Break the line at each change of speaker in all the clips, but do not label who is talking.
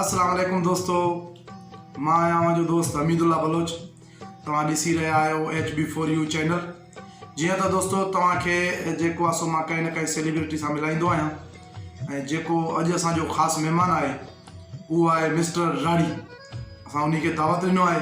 السلام عليڪم دوستو مان آهيان اوهان جو دوست حميد الله بلوچ توهان ڏسي رهيا آهيو H B four U channel جيئن ته دوستو توهان کي جيڪو آسو مان ڪنهن نه ڪنهن سيليبرٽي سان ملائيندو آهيان ۽ جيڪو اڄ اسان جو خاص مهمان آهي اهو آهي مسٽر راڙي اسان ان کي دعوت ڏنو آهي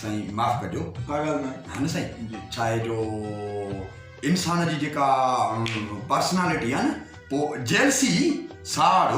سائين معاف
ڪجو ڪا ڳالھ ناهي ها نه
سائين جي ڇا آهي
جو انسان جي جيڪا پرسنالٽي آهي نه پو جيلسي ساڙ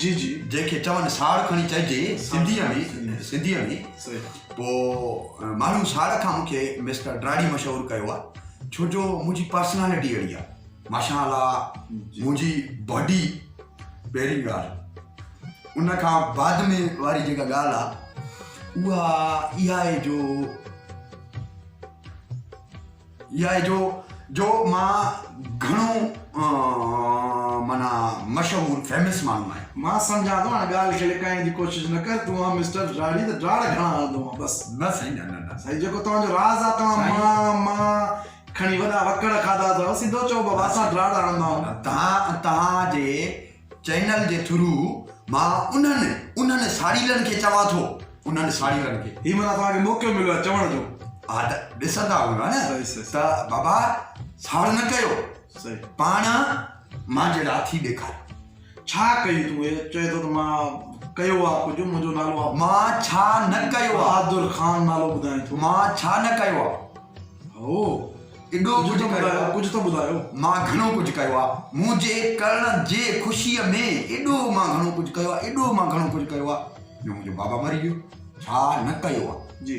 جي جي
جنهن کي چون ساڙ
کڻي چئجي سنڌي ۾ سنڌي ۾ پو ماڻهو ساڙ کان مونکي مسٽر ڊراڙي مشهور ڪيو آهي ڇو جو منهنجي پرسنالٽي اهڙي آهي ماشاء الله منهنجي باڊي پهرين ڳالهه ان کان بعد ۾ واري جيڪا ڳالهه آهي اها اها آهي جو اها آهي جو جو مان گهڻو مانا مشهور فيمس ماڻهو آهي مان سمجهان ٿو هاڻي
ڳالهه کي لڪائڻ جي ڪوشش نه ڪر تون آهي مسٽر ڊراڙي ته ڊراڙ گهڻا هڻندو آهي بس نه سائين نه نه سائين
جيڪو توهان جو راز
آهي توهان مان مان کڻي وڏا وڪڙ کاڌا اٿئو سڌو چئو ٻه واسا ڊراڙ هڻندائون. تهان توهان جي
چينل جي ٿرو مان انهن انهن ساڙيلن کي چوان ٿو انهن ساڙيلن کي. هي منا توهان کي موقعو مليو
آهي چوڻ جو. ها ته ڏسندا
هوندا نه ته بابا ساڙ نه ڪيو پاڻ مان جهڙا ٿي ڏيکاريو. ڇا ڪيو
تون هي چئي ٿو ته مان ڪيو آ ڪجهه منهنجو نالو آ. مان ڇا نه
ڪيو آ. بهادر خان نالو
ٻڌائين ٿو. مان ڇا نه ڪيو
آ. هو
ايڏو
ڪجهه ڪيو آ. ڪجهه ته ٻڌايو.
مان گهڻو ڪجهه
ڪيو آ. منهنجي ڪرڻ جي خوشيء ۾ ايڏو مان گهڻو ڪجهه ڪيو آ. ايڏو مان گهڻو ڪجهه ڪيو آ جو منهنجو بابا مري ويو. ڇا نه ڪيو آ. جي.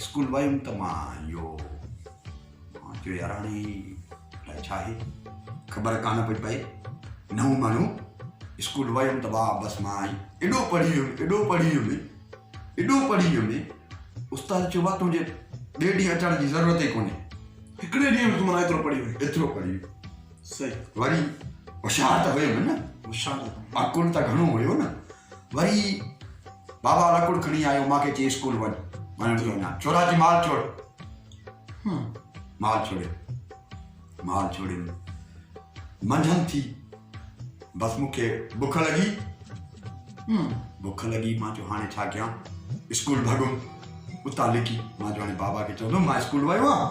اسڪول ويم ته مان اهو مان چيو يار هاڻي الاء ڇا آهي خبر ڪانه پئي پئي نئون ماڻهو اسڪول ويم ته واهه بس مان ايڏو پڙهي ويم ايڏو پڙهي ويم ايڏو پڙهي ويم استاد چيو واهه تنهنجي ٻئي ڏينهن اچڻ جي ضرورت ئي ڪونهي هڪڙي ڏينهن ۾
تون منا ايترو پڙهي ويم ايترو پڙهي ويم وري
هوشيار ته هيم نه اڪل ته گهڻو هيو نه وري بابا لڪڙ کڻي آيو ماکي چي اسڪول وڃ ماڻهن جو نه چورا جي مال چور مال چوري مال چوري منجهن ٿي بس مونکي بک لڳي بک لڳي مان چو هاڻي ڇا ڪيان اسڪول ڀڳم اتان لڪي مان چو هاڻي بابا کي چوندم مان اسڪول ويو آهيان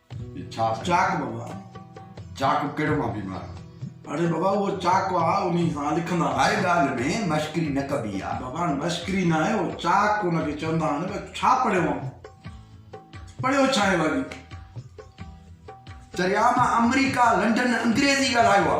چاڪ بابا
چاڪ
ڪهڙو مان بيمار. اڙي بابا اهو
چاڪ آ انهي سان لکندا. هر ڳالهه ۾
مشڪري نه ڪبي آ. بابا مشڪري نه آهي
اهو چاڪ ان کي چوندا آهن ٻيو ڇا پڙهيو آن پڙهيو ڇا آهي ڀاڄي. چريا
مان آمريڪا لنڊن انگريزي ڳالهايو آ.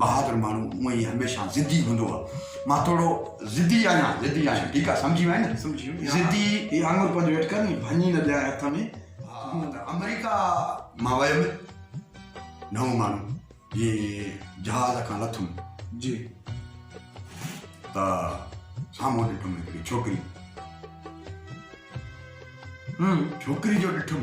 بهادر ماڻهو هونئن ئي هميشه ضدي هوندو آ مان ٿورو ضدي آهيان ضدي آهيان ٺيڪ آ سمجهي وئين نه سمجهي ويم ضدي
هي آڱر
پنهنجو هيٺ
ڪر ني ڀڃي نه ڏيانء هٿ ۾ آمريڪا
مان ويم نئون ماڻهو جي جهاز کان لٿم جي ته سامهون ڏٺم هڪڙي ڇوڪري ڇوڪري جو ڏٺم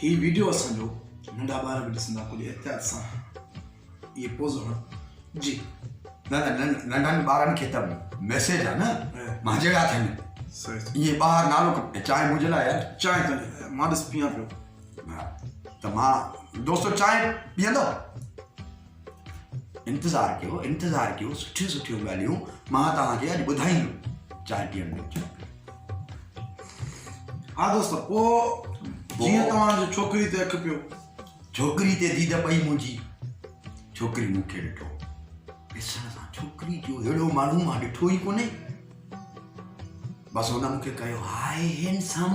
هي
ويڊيو اسان جو ننڍا ٻار به ڏسندا ڪجهه احتياط سان اهي پوز هڻ جي نه نه
ننڍن ٻارن کي ته ميسيج آ نه مان جهڙا ٿين صحيح اهي
ٻاهر نالو
چانهه منهنجي لاء يار چانهه ته مان
ڏس پيان پيو ته
مان دوستو چانهه پيئندو انتظار ڪيو انتظار ڪيو سٺيون سٺيون ڳالهيون مان توهان کي اڄ ٻڌائيندم چارٽيان ۾
ها دوست پو جيئن توهان جو ڇوڪري تي اک پيو ڇوڪري تي
ديد پئي منهنجي ڇوڪري مون کي ڏٺو ڏسڻ سان ڇوڪري جو اهڙو ماڻهو مان ڏٺو ئي ڪونهي بس هن مون کي ڪيو هاء هينڊسم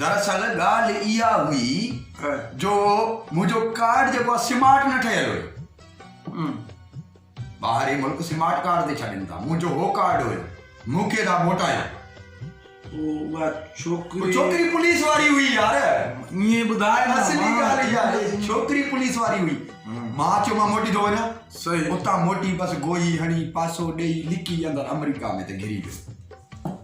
دراصل ڳالهه اها هئي جو منهنجو ڪارڊ جيڪو آهي سمارٽ نه ٺهيل هيو. ٻاهرين ملڪ سمارٽ ڪارڊ تي ڇڏين ٿا. منهنجو هو ڪارڊ هيو. مون کي ٿا موٽايو. اها
ڇوڪري ڇوڪري پوليس واري
هئي يار. ائين ٻڌاء نه.
اصلي ڳالهه اها هئي
ڇوڪري پوليس واري هئي. مان چيو مان موٽي ٿو وڃان. صحيح. اتان موٽي
بس
گوئي هڻي پاسو ڏيئي لڪي اندر آمريڪا ۾ ته گهري ويو.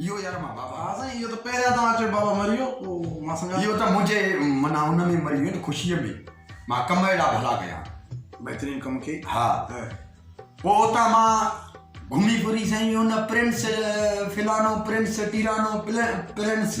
اهو يار مان بابا ها سائين اهو ته پهريان
توهان اچو بابا مري ويو پوء مان سمجھان اهو ته منهنجي
منا ان ۾ مري ويو ته خوشيء ۾ مان ڪم اهڙا ڀلا ڪيا بهترين ڪم
کي ها
پوء اتان مان گھمي ڦري سائين ان پرنس فلانو پرنس ٽيرانو پرنس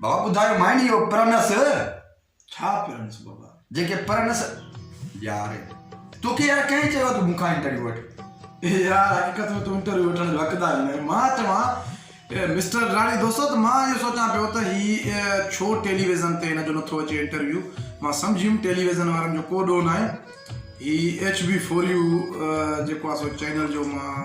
بابا ٻڌايو
مائني اهو پرنس ڇا
پرنس بابا جيڪي پرنس
يار توکي يار ڪنهن چيو ته مونکان انٽرويو وٺ يار
حقيقت ۾ تو انٽرويو وٺڻ جو حقدار نه مان چوان مسٽر راڻي دوستو ته مان اهو سوچان پيو ته هي ڇو ٽيليويزن تي هن جو نٿو اچي انٽرويو مان سمجهيم ٽيليويزن وارن جو ڪو ڏوهه ناهي هي ايڇ بي فور يو جيڪو آهي سو چينل جو مان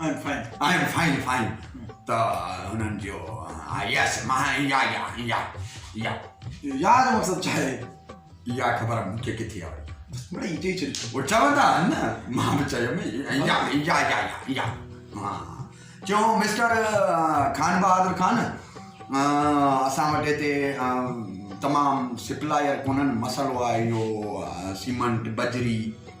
آئين فائين فائين ته هنن جو يس مان يا يا يا
يا يا جو مقصد ڇا آهي يا خبر
مون کي ڪٿي آهي مڙي چئي چئي
او چوندا آهن
نه مان به چيو مي يا يا يا يا ها چو مسٽر خان بهادر خان اسان وٽ هتي تمام سپلائر ڪونن مسئلو آهي اهو سيمنٽ بجري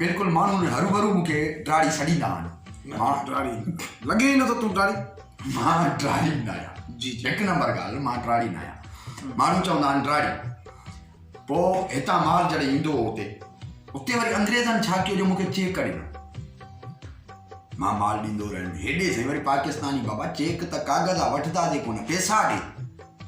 بلڪل ماڻهن جي هروڀرو مون کي ڊاڙي سڏيندا آهن. مان ڊاڙي
لڳي ئي نٿو تون ڊاڙي. مان ڊاڙي
ناهيان. جي جي هڪ نمبر
ڳالهه مان
ڊاڙي ناهيان. ماڻهو چوندا آهن ڊاڙي. پوء هتان مال جڏهن ايندو هو اتي اتي وري انگريزن ڇا ڪيو جو مون کي چيڪ ڏنو. مان مال ڏيندو رهيم هيڏي سائين وري پاڪستاني بابا چيڪ ته ڪاغذ آ وٺدا جي ڪونه پيسا ڏي.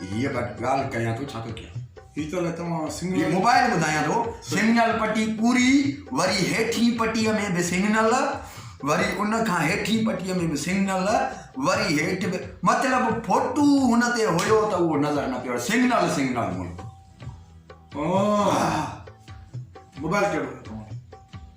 هيء
ڳالهه ڪيان ٿو، ڇا ٿو ڪيان؟ هي ته نه توهان
سنگنل. هي موبائل
ٻڌايان
ٿو،
سنگنل پٽي پوري، وري هيٺين پٽيء ۾ به سنگنل، وري ان کان هيٺين پٽيء ۾ به سنگنل، وري هيٺ به. مطلب فوٽو هن تي هيو ته اهو نظر نه پيو اچي. سنگنل سنگنل ملڪ. آه. موبائل
ڪهڙو اٿو؟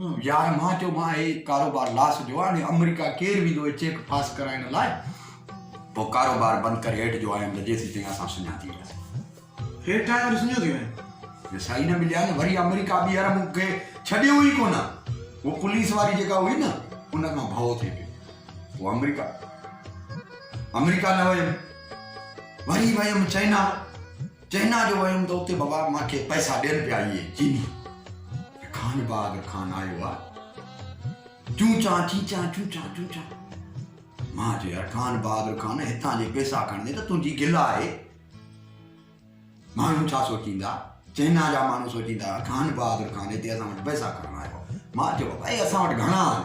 يار مان چيو مان هي ڪاروبار لاس جو آهي امريڪا ڪير ويندو هي چيڪ پاس ڪرائڻ لاء پوء ڪاروبار بند ڪري هيٺ جو آيم ته جيسين تائين اسان سڃا ٿي وياسين هيٺ
آيو ته سڃو ٿي ويم جي سائي نه مليا
نه وري امريڪا ٻيهر مون کي ڇڏيو ئي ڪونه هو پوليس واري جيڪا هئي نه ان کان ڀؤ ٿي پيو هو امريڪا امريڪا نه ويم وري ويم چائنا چئنا جو ويم ته اتي بابا مان کي پئسا ڏين پيا اهي چيني جي خان باغ کان آيو آ چون چان چين چان چون چان چون چان مان چيو يار خان بهادر خان هتان جي پئسا کڻندي ته تنهنجي گل آهي ماڻهو ڇا سوچيندا چئنا جا ماڻهو سوچيندا خان بهادر خان هتي اسان وٽ پئسا کڻڻ آيو مان چيو بابا اي اسان وٽ گهڻا آهن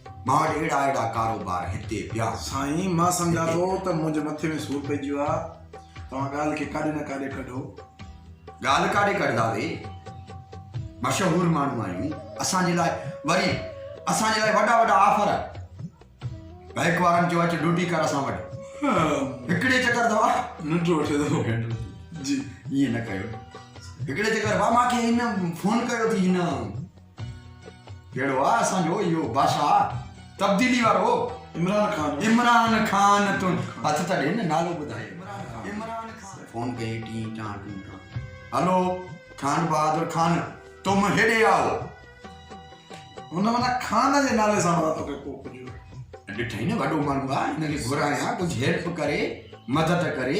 مان وٽ اهڙا اهڙا ڪاروبار هتي پيا. سائين مان سمجهان
ٿو ته منهنجي مٿي ۾ سور پئجي ويو آهي توهان ڳالهه کي ڪاڏي نه ڪاڏي ڪڍو. ڳالهه
ڪاڏي ڪڍداسي مشهور ماڻهو آهيون اسان جي لاء وري اسان جي لاء وڏا وڏا آفر بئنڪ وارن چيو اچ ڊوٽي ڪر اسان وٽ هڪڙي چڪر دوا ننڊ وٺي ٿو
جي ائين نه ڪيو
هڪڙي چڪر مان کي هن فون ڪيو ٿي هن ڪهڙو آ اسان جو اهو بادشاهه تبديلي وارو عمران خان عمران خان تون هٿ ته ڏي نه نالو ٻڌائي عمران خان فون ڪئي ٽي ٽا ٽي ٽا هلو خان بهادر خان تم هيڏي آو
هن منا خان جي نالي سان ورا توکي ڪو ڪجو ڏٺائي نه
وڏو ماڻهو آ هن کي گهرايان ڪجهه هيلپ ڪري مدد ڪري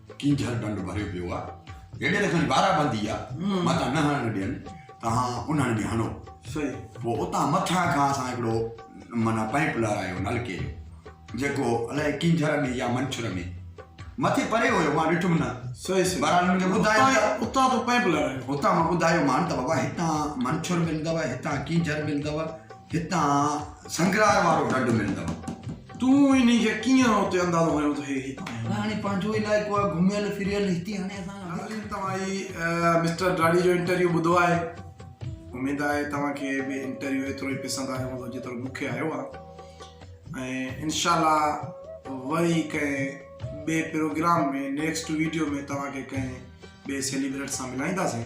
ڪينجهر ڍنڍ ڀريو پيو آ، جيڏي لکن بارا بندي آ، متان نه هڻڻ ڏين، توهان انهن ۾ هڻو. پوء
اتان مٿان
کان اسان هڪڙو معنيٰ پائيپ لارايو نلڪي جو، جيڪو الائي ڪينجهر ۾ يا منڇر ۾، مٿي پري هيو، مان ڏٺم نه، بهرحال هن مون کي
ٻڌايو
ته. اتان تو پائيپ
لارايو. اتان مان ٻڌايومان
ته بابا هتان منڇر ملندؤ، هتان ڪينجهر ملندؤ. هتان سنگرار وارو ڍنڍ ملندو. تون انهي کي
ڪيئن اتي اندازو هنيو ته هي هتان آيو. هاڻي پنهنجو علائقو
آهي گهميل ڦريل هتي هاڻي اسان کان وڌيڪ ناظرين توهان هي
مسٽر ڊاڙي جو انٽرويو ٻڌو آهي اميد آهي توهان کي به انٽرويو ايترو ئي پسند آيو هوندو جيترو مون کي آيو آهي ۽ انشاء الله وري ڪنهن ٻئي پروگرام ۾ نيڪسٽ ويڊيو ۾ توهان کي ڪنهن ٻئي سيليبريٽ سان ملائينداسين